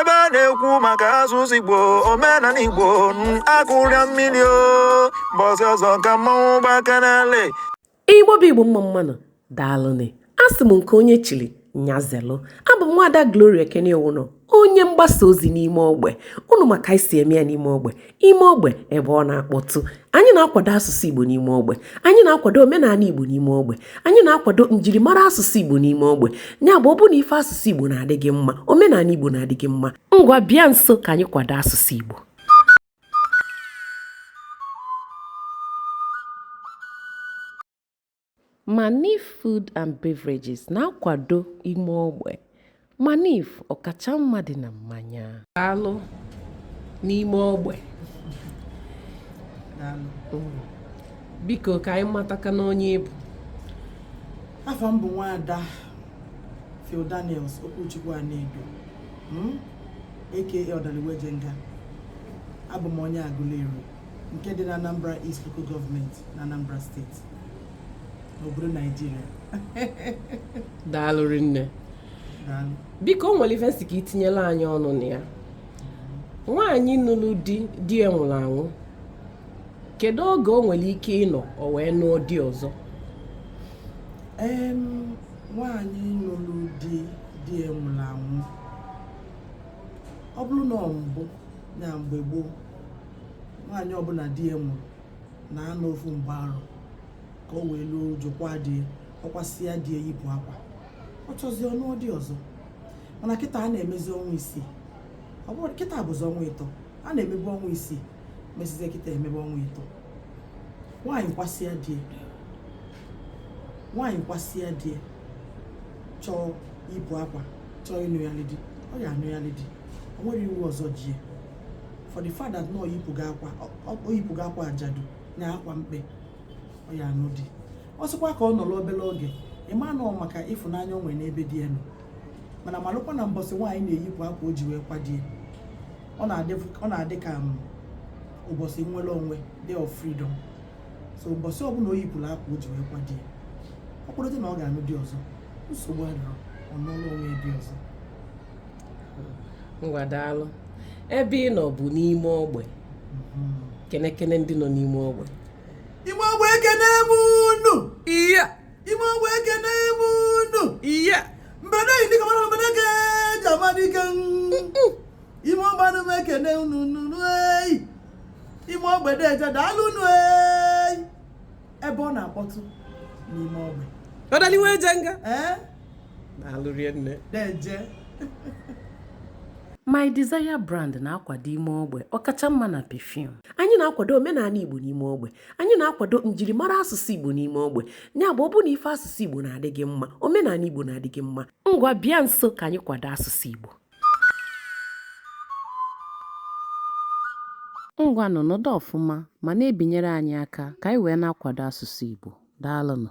ebe a na-ekwu maka asụsụ igbo omenala igbo akụrịa mmiri o mbọsị ọzọ ka mmanwụ gbakanale igbo bụ igbo mma mmanụ daalụnị asị m nke onye chiri nya zelu abụ m nwaada gloria ekene iwunọ onye mgbasa ozi n'ime ogbe unu ma ka anyị si eme ya n'ime ogbe ime ogbe ebe ọ na-akpọtụ anyị na-akwado asụsụ igbo n'ime ogbe anyị na-akwado omenala igbo n'ime ogbe anyị na-akwado njirimara asụsụ igbo n'ime ogbe ya bụ ọ bụ na ife asụsụ igbo na-adị gị mma omenala igbo na-adị gị mma ngwa bịa nso ka anyị kwado asụsụ igbo Manif Food and Beverages na-akwado ime ogbe Manif ọkacha mma dị na mmanya. Daalụ n'ime ogbe. Biko ka anyị matakene onye ị bụ. Afa m bụ nwaada Phil Daniels Okwuchukwu Anedo aka Ọdaliwejenga abụ m onye Aguleri nke dị na Anambra East Local Gọọmenti na Anambra Steeti obodo naijiria daalụ rinne biko o nwere ife m sị ka i tinyelụ anyị ọnụ na ya nwaanyị nụrụ di di ya nwụrụ anwụ kedu oge o nwere ike ịnọ o wee nụọ di ọzọ nwaanyị nụrụ di di ya nwụrụ anwụ ọ bụrụ na ọ mbụ na mgbe gboo nwaanyị ọbụla di ya nwụrụ na-anọ ofu mgbe arọ ka o wee luo uju kwaa die ọ kwasịa die yipụ akwa ọ chọzie ọ nụọ di ọzọ mana kịta a na-emezi ọnwa isii ọ bụrụ kịta bụzi ọnwa ịtọ a na-emebu ọnwa isii mesizie kịta e mebe ọnwa ịtọ nwaanyị kwasịa die nwaanyị kwasịa die chọọ iyipụ akwa chọọ ịnụyalị di ọ ya-anụyalị di o nwerọ iwu ọzọ ji for the fact that na o yipụgo akwa o yipụgo akwa ajadu na akwa mkpe ọ ya-anụ di ọ sịkwa ka ọ nọrọ obere oge ị ma na ọ maka ịfụnanya o nwere n'ebe di ya nọ mana malụkwa na mbọsị nwaanyị na-eyipụ akwa o ji wee kwa di ya ọ na-adị ọ na-adị ka m, ụbọsị nnwere onwe day of freedom so ụbọsị ọbụla o yipụrụ akwa o ji wee kwa di ya ọ kpụrụta na ọ ga-anụ di ọzọ nsogbu adịrọ ọ nụọlụ onwe ya di ọzọ ngwa daalụ ebe ị nọ bụ n'ime ogbe kenekene ndị nọ n'ime ogbe ime ogbe ekene m unu iya ime ogbe ekene m unu iya mbede nyi dike mana mbede ka e ji ama dike ime ogbe ana m ekene unu nunu eyi ime ogbe deeje daalụ unu eyi ebe ọ na-akpọtụ n'ime ogbe ọdaliwe eje nga ee My Desire brand na-akwado ime ogbe ọkacha mma na perfume. Anyị na-akwado omenaanị Igbo n'ime ogbe. Anyị na-akwado njirimara asụsụ Igbo n'ime ogbe. Ya bụ ọ bụ na ife asụsụ Igbo na-adị gị mma, omenaanị Igbo na-adị gị mma. Ngwa bịa nso ka anyị kwado asụsụ Igbo. Ngwanụ nọdụ ọfụma ma na-ebinyere anyị aka ka anyị wee na-akwado asụsụ Igbo. Daalụnụ.